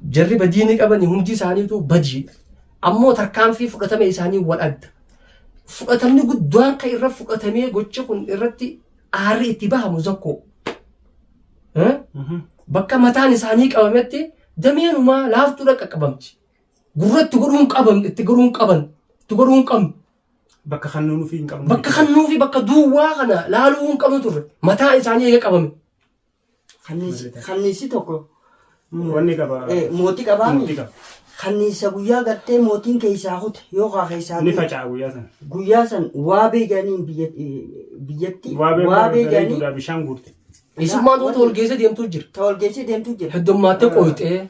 Jarri badii ni qabani hundi isaaniitu badiidha. Ammoo tarkaanfii fudhatame isaanii wal adda. Fudhatamni guddaan kan irra fudhatamee gochi kun irratti aarri itti bahamu zakkoo. Eh? Bakka mataan isaanii qabametti dameenumaa laaftuudha qaqqabamti. Gurratti godhuun qaban, itti godhuun qaban, itti godhuun qabnu. Bakka kan nuun ofii hin qabnu. Bakka kan nuufi bakka duwwaa kana laaluu hin qabnu turre. Mataa isaanii eega qabame. Kanniisi tokko wanni qaba. Mootii qabaa Mootii qaba. Kanniisa guyyaa gartee mootiin keessaa kute yookaan keessaa Ni faca'a guyyaa sana. guyyaa san waabee jedhaniin biyya- eh, biyyatti Waabee waabee jedhanii bareeduudhaa bishaan guurte. Isummaan tuuta ol geessee deemtuu jira. ta walgeessee deemtuu jira. Heddummaattee qooyxee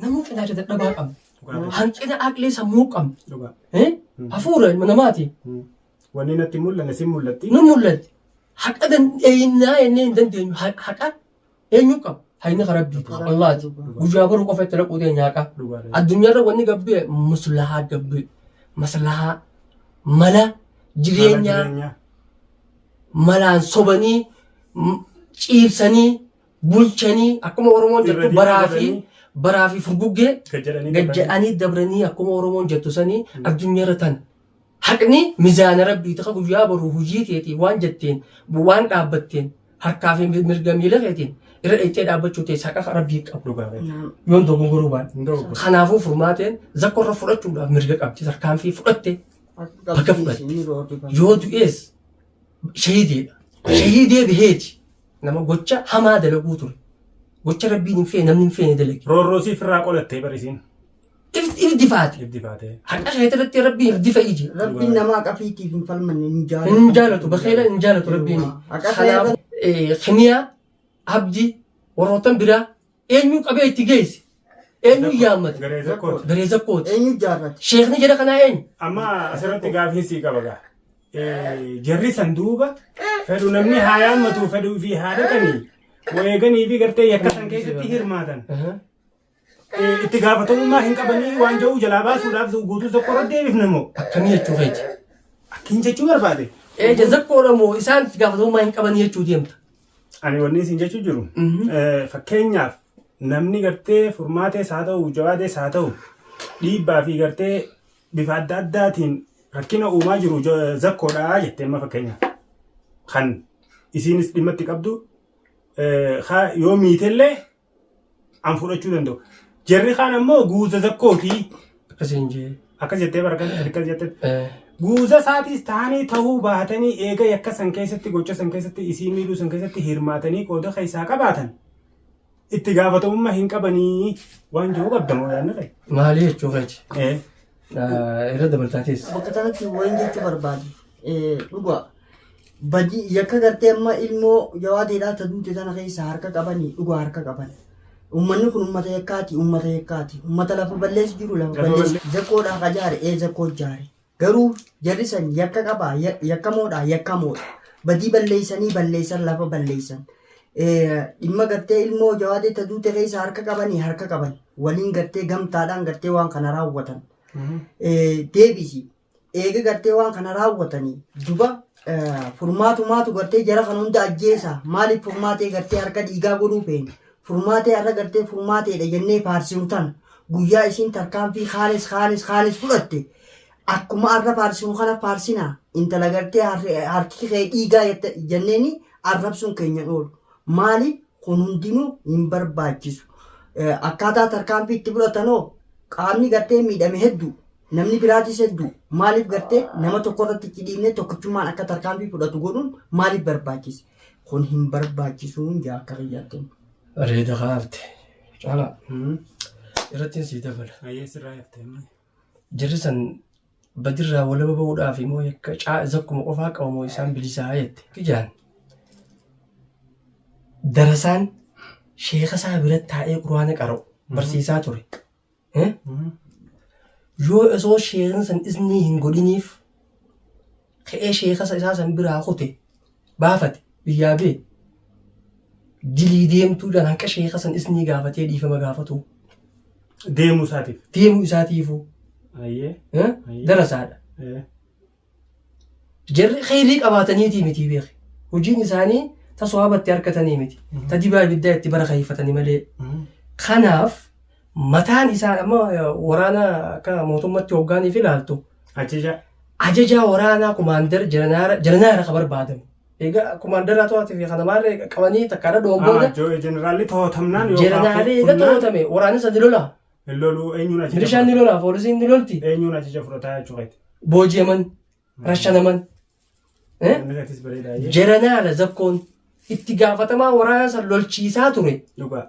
Namuu qinaacha dadhabaa qabna. Dhugaa Hanqina aqlee sammuu qabna. Dhugaa. Eh? Mm. Hafuura ilma namaati. Mm. Wanni natti hin mul'anne sin mul'atti. Nu mul'atti. Haqa dandeenyaa jennee hin dandeenyu. Ha- Haqa eenyu qaba? Hayni ka rabbii qaba. Allaati. Guyyaa boruu qofa itti dhaquu teenya haqa. Dhugaa. Addunyaarra wanni gabbee muslahaa gabbee. Maslahaa. Mala jireenyaa. Jireenyaa. malaan sobanii m- ciibsanii bulchanii akkuma Oromoon jettu Irra baraa fi deebi'anii. baraa fi furguggee Gad jedhanii gad dabranii. jedhanii dabranii akkuma Oromoon jettu sanii addunyaarra tan haqni mizaana rabbii ta'a guyyaa boru hojii teetii waan jetteen waan dhaabbatteen harkaa fi mirga miila keetiin irra dhayxee dhaabbachuu teessa haqa rabbii qabu Dhugaa ta'e. Naam. yoon dogongoruu baadhe. Hin dogoggorre. Kanaafuu furmaateen zakkorra fudhachuudhaaf mirga qabdi tarkaanfii fudhatte Bakka fudhatte. Yoo du'ees shahiidiidha. Shahiidee biheeti. Nama gocha hamaa dalaguu ture. Gocha rabbiin hin feene namni hin feene dalage. Roorroo siif irraa qolattee barisiin. Ibid- Ibiddi faate. Ibdi faatee. Haqa isheetti irratti rabbiin irdi fa'i jira. Rabbiin namaa qafiitiif hin falmanne hin jaalatu. Hin jaalatu bakkeela hin jaalatu rabbiin. Haqa Kanaaf ta'e eh, kimiyaa abdii warroottan biraa Eenyuu qabee itti geesse? Eenyuu yaammate? Garee zakkooti. Garee zakkooti. Eenyu jaarrate? Sheekni jara kanaa eenyu? Amma asirratti gaaffiin sii qaba gaa. Eh, Jarri san duuba fedhu namni haa yaammatu fedhuu fi haa dhaqanii wareeganii fi gartee yakka san keessatti hirmaatan. Eh, Itti gaafatamummaa hin qabanii waan ja'uu jalaa baasuudhaaf guutuu tokko irratti deebifna moo? Akkamii jechuu keeti? Akkin jechuu barbaade. Eeja zakkoodha moo isaan itti gaafatamummaa hin qaban jechuu deemta? Ani wanni isin jechuu jiru fakkeenyaaf namni gartee furmaatees haa ta'u jawaadees haa ta'u dhiibbaa fi gartee bifa adda addaatiin rakkina uumaa jiru zakkoodhaa jettee amma fakkeenyaaf kan isiinis dhimma itti qabdu yoo miitellee an fudhachuu danda'u. Jarri kaan ammoo guuza zakkooti. Akkas hin jee. Akkas jettee barkan akkas jette. Eh, Guuza isaatiis ta'anii ta'uu baatanii eega yakka san keessatti gocha san keessatti isii miidhuu san keessatti hirmaatanii qooda keessaa qabaatan itti gaafatamummaa hin qabanii waan jiru qabda moo yaadni kee? Maali jechuu keeti? Eh. Ah, Irra dabaltaatis. Bakka kanatti wayin jechuu barbaade eh, dhugaa Badi yakka gartee amma ilmoo jawaadeedhaa ta duute tana keessa harka qabani dhugaa harka qaban. Ummanni kun ummata yakkaati ummata yakkaati ummata lafa balleessi jiru lafa Lafa balleessi balle- zakkoodhaa ka jaare ee zakkoo jaare garuu jarri san yakka qabaa Ya- yakkamoodhaa yakkamoodha badii balleessanii balleessan lafa balleessan Eh, dhimma gartee ilmoo jawaadee ta duute keessa harka qabanii harka qaban waliin gartee gamtaadhaan gartee waan kana raawwatan Eh, deebisi eega gartee waan kana raawwatanii duba furmaatumaatu gartee jara kan hunda ajjeesa maaliif furmaatee gartee harka dhiigaa godhuu feene furmaatee har'a gartee furmaateedha jennee faarsinu tana guyyaa isiin tarkaanfii kaanis kaanis kaanis fudhatte akkuma har'a faarsinu kana faarsina intala gartee harki kee dhiigaa jenneeni arrabsuun keenyan oolu maaliif kun hundinuu hin barbaachisu akkaataa tarkaanfii itti fudhatanoo qaamni gartee miidhame hedduu Namni biraatis hedduu maaliif gartee nama tokko irratti itti dhiibnee tokkichummaan akka tarkaanfii fudhatu godhuun maaliif barbaachise? Kun hin barbaachisuun jaa akka kiyyaatti. Bareeda kaafte. Caalaa. Irrattiin sii dabala. Ayyee sirraa haftee malee. Jarri san badirraa walaba ba'uudhaaf immoo yakka caa zakkuma qofaa qabu moo isaan bilisaa jette. Kijaan. Darasaan sheeka isaa bira taa'ee quraana qara'u barsiisaa ture. yoo osoo sheekni san isnii hin godhiniif ka'ee sheekasa isaa san biraa kute baafate biyyaa bee dilii deemtuu jaan hanqa sheeka san isnii gaafatee dhiifama gaafatu Deemuu isaatiif. deemuu isaatiifuu Ayyee. eh, Ayyee. darasaadha Eh. Jarri kheyrii qabaataniitii mitii beeki. Hojiin isaanii ta sohaaba itti harkatanii miti. Ta dibaa ibiddaa itti bara kheeyfatani malee. Kanaaf mataan isaa amma eh, waraana akka mootummatti hoggaaniif ilaaltu Ajaja. ajajaa waraanaa kumaandar jaranaara jaranaara ka barbaadamu. Egaa kumaandaraa to'atuu fi kana maarree qabanii takkaadha dhoon booda Jeneraali to'atamnaan yookaan jaranaaree eega fudhannaan- to'atame waraanni sadi lola. Hin loluu eenyuun ajaja Milishaan ni fudhata? lola, poolisiin ni lolti. Eenyuun ajaja fudhataa jechuu keeti? Booji'aman, rashanaman. Eh? Inni keetis bareedaa jee. Jaranaala zakkoon itti gaafatamaa waraana san lolchiisaa ture. Dhugaa.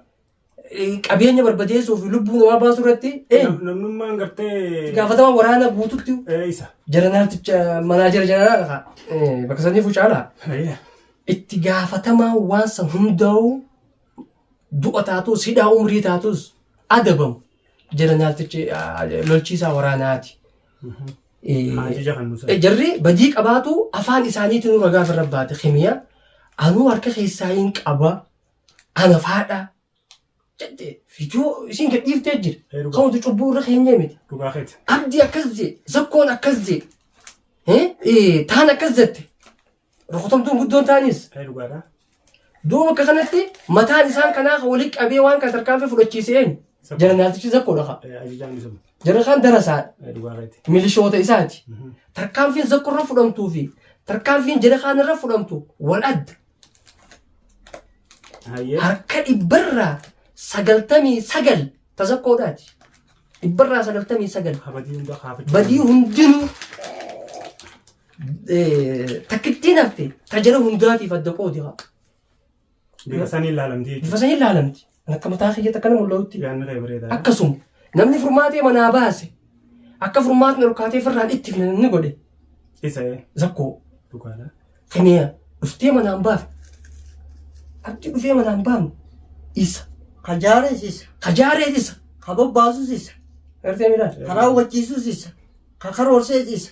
Eh, Qabeenya barbadeessuu fi lubbuu namaa baasuu irratti eh, Nam- Namnummaan itti gartee gaafatamaa waraana guututti ee, isa. jaranaalticha manaajera jaranaala kaa. Eh, Bakka sanii fucaalaa. Ayyee. Itti gaafatamaa waan san hundaa'uu du'a taatus hidhaa umrii taatus adabamu jeneraaltichi lolchiisaa waraanaati. Jarri badii qabaatu afaan isaaniitiin nu ragaa birra baate kimiya anuu harka keessaa hin qaba ana faadha jette fidoo isiin gadhiiftee jira. Kan hundi cubbuu irra keenyee miti. Abdii akkas jee zakkoon akkas jee taan akkas jette. Rukutamtuun guddoon ta'anis. Ee dhugaadha. Duuba akka kanatti mataan isaan kanaa kan walitti qabee waan kan tarkaanfii fudhachiise eenyu? Isa- Janaraaltichi zakkoodha kaa. Ee, Ajajaan isuma. Jarri kaan darasaadha. Ee, dhugaa keeti. Milishoota isaati. Mhm. Tarkaanfiin zakko irra fudhamtuu fi tarkaanfiin jara kaan irra fudhamtu wal adda. Hayyee. Harka dhibbarraa sagaltamii sagal tazakkoodhaati. Dhibbarraa sagaltamii sagal. Habadii hunda kaafachuu. Badii hundinuu takkittiin hafte tajara hundaatiif adda qoodi haa. Bifa saniin laalamti jechuudha. Bifa saniin laalamti. Akka mataa kiyyaatti akkana mul'atutti. Yaanni kee bareedaa. Akkasuma namni furmaatee manaa baase akka furmaatni ol kaatee firraan itti fina namni godhe Isa ee. zakkoo Dhugaadha. kiniya dhuftee manaan baafne abdi dhufee manaan baafne isa Kajaarees isa. kajaarees isa Ka bobbaasus isa. gartee midhaan Ka raawwachiisus isa. Ka karoorsees isa.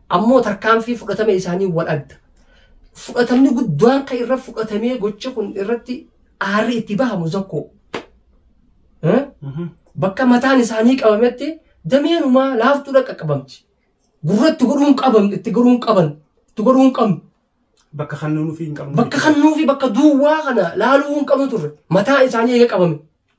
Ammoo tarkaanfii fudhatame isaanii wal adda. Fudhatamni guddaan kan irra fudhatamee gocha kun irratti aarri itti bahamu zakkoo. Eh? Mhm. Bakka mataan isaanii qabametti dameen umaa laaftuudha qaqqabamti. Gurra itti godhuun qaban, itti godhuun qaban, itti godhuun qabnu. Bakka kan nuunufii hin qabnu. Bakka kan nuufi bakka duwwaa kana laaluu hin qabnu turre. Mataa isaanii eega qabame.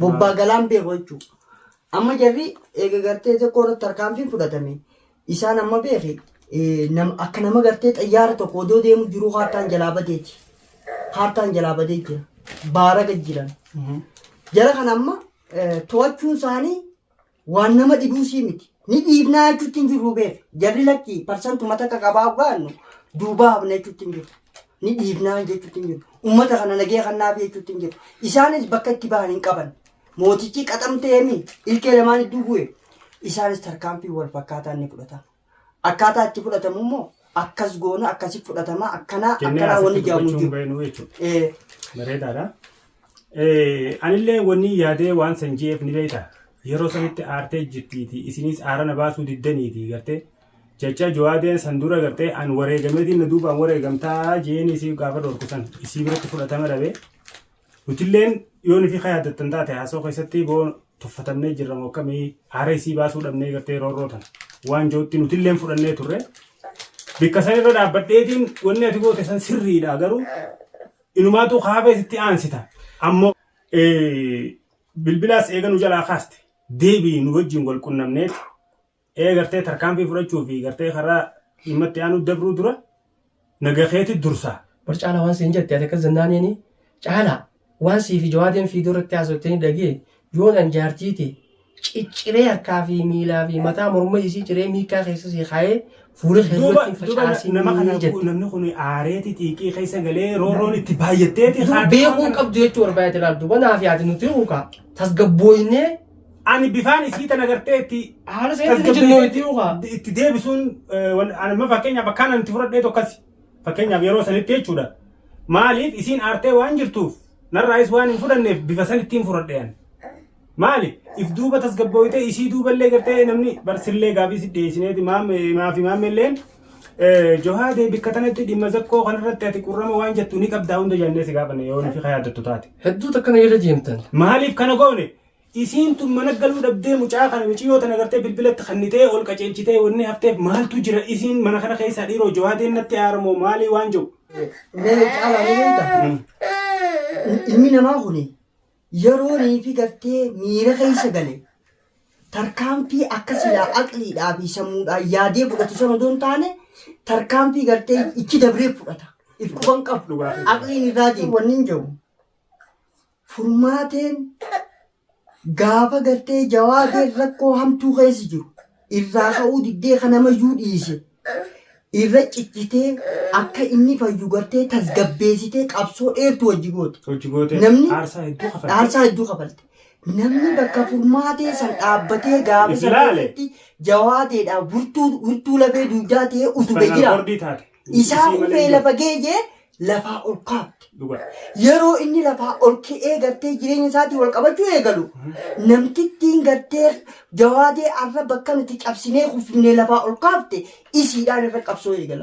bobbaa galaan beeku jechuudha. Amma jarri eega gartee xiqqoo irratti tarkaanfiin fudhatame isaan amma beeki eh, nam- akka nama gartee xayyaara tokko odoo deemu jiruu kaartaan jalaa badeeti. Kaartaan jalaa badee jira. Baaraga jiran. Jara kana amma eh, to'achuun isaanii Waan nama dhibuusii miti. Ni dhiifnaa jechuutti hin jirru beeka. Jarri lakki parsantuma takka qabaa gaannu duubaa hafna jechuutti hin jirru. Ni dhiifnaa jechuutti hin jirru. Uummata kana nagee kannaaf jechuutti hin jirru. Isaanis bakka itti bahan hin qaban. Mootichi qaxamtee mi ilkee lamaan idduu bu'e. Isaanis tarkaanfii wal fakkaataan ni fudhatama. Akkaataa itti fudhatamu immoo akkas goona akkasi fudhatama akkanaa jennee akkanaa asitti wanni jedhamu hin dubbachuu hin jiru. beeknu jechuudha. Eh, Bareedaadha. Eh, Anillee wanni yaadee waan san jeef ni beekta. Yeroo sanitti aartee jirtiiti. Isinis aara na baasuu diddaniiti gartee. Jecha jawaadeen san dura gartee an wareegameetiin na duubaan wareegamtaa jeen isii gaafa dhorku san isii biratti fudhatama dhabe. Nutilleen yoon fi yaaddattan taate haasoo keessatti boo Tuffatamnee jirra moo akkamii aara isii baasuu dhabnee gartee roorroo tana waan jootti nutilleen fudhannee turre bikka san irra dhaabbadheetiin wanni ati goote san sirriidha garuu inumaatuu kaaba isitti aansita ammoo bilbilaas eega nu jalaa kaaste deebii nu wajjin wal qunnamneeti ee gartee tarkaanfii fudhachuu fi gartee karaa dhimma itti aanuu dabruu dura naga keeti dursaa. Bar caala waan siin jette ati akkas jennaaniini caala waan sii fi jawaadeen fiidoo irratti haasoftanii dhagee yoon an jaartii tee cicciree harkaa fi miilaa fi mataa morma isii ciree miikkaa keessa sii kaayee fuula kee duuba duratti hin duuba na- facaasin nama kana jette. namni kun aareeti xiiqii keessa galee roorroon itti baay'atteeti Duuba haadha beekuu waan hin kana- qabdu jechuu barbaadate laal duuba naaf yaade nuti ukaa tasgabbooynee Ani bifaan isii tana gartee itti Haala isaa itti tasgabbeessee jennee itti hoogaa. itti- itti deebisuun eh, wan- ani amma fakkeenyaaf akkaan ani itti fudhadhee tokkasi. Fakkeenyaaf yeroo sanitti jechuudha. Maaliif isiin aartee waan jirtuuf narraayis waan hin fudhanneef bifa sanittiin fudhadhe ani. Maali if duuba tasgabbooytee isii duuballee gartee namni barsillee gaafii si dhiyeessineeti maame maafi maamelleen eh, johaa dee bikka tanatti dhimma zakkoo kanarratti ati qurrama waan jettu ni qabdaa hunda jennee si gaafanne yoo nufi ka yaaddattu taate. Hedduu takka na irra deemtan. Maaliif kana goone? Isiin tun mana galuu dhabdee mucaa kana miciyoo tana gartee bilbila itti kannitee ol qaceelchitee wanni hafteef maaltu jira isiin mana kana keessaa dhiiroo jawaadeen natti aara moo maalii waan jedhu. Mee caalaa ni beekta ilmi namaa kun yeroonii fi gartee miira keessa gale tarkaanfii akka silaa aqliidhaa fi sammuudhaan yaadee fudhatu sana odoo hin taane tarkaanfii gartee itti dabree fudhata. If quban qabu. Dhugaa. Aqliin irraa deema. Wanni hin jiru. furmaateen gaafa gartee jawaadeen rakkoo hamtuu keessa jiru irraa ka'uu diddee kan namayyuu dhiise irra cichitee akka inni fayyu gartee tasgabbeessitee qabsoo dheertu wajji goote. Hojii gootee Namni- aarsaa hedduu kafalte. Dhaarsaa hedduu kafalte. Namni bakka furmaatee san dhaabbatee gaafa If sana ilaale. keessatti jawaadeedhaaf wirtuu wirtuu lafee duudaa ta'ee utube Spinal jira. cord taate. Isaa hubee lafa geeyee lafaa ol kaafte. Yeroo inni lafaa ol ka'ee gartee jireenya isaatii wal qabachuu eegalu namtittiin gartee jawaadee arra bakka nuti cabsinee kuffifnee lafaa ol kaafte isiidhaan irra qabsoo eegalan.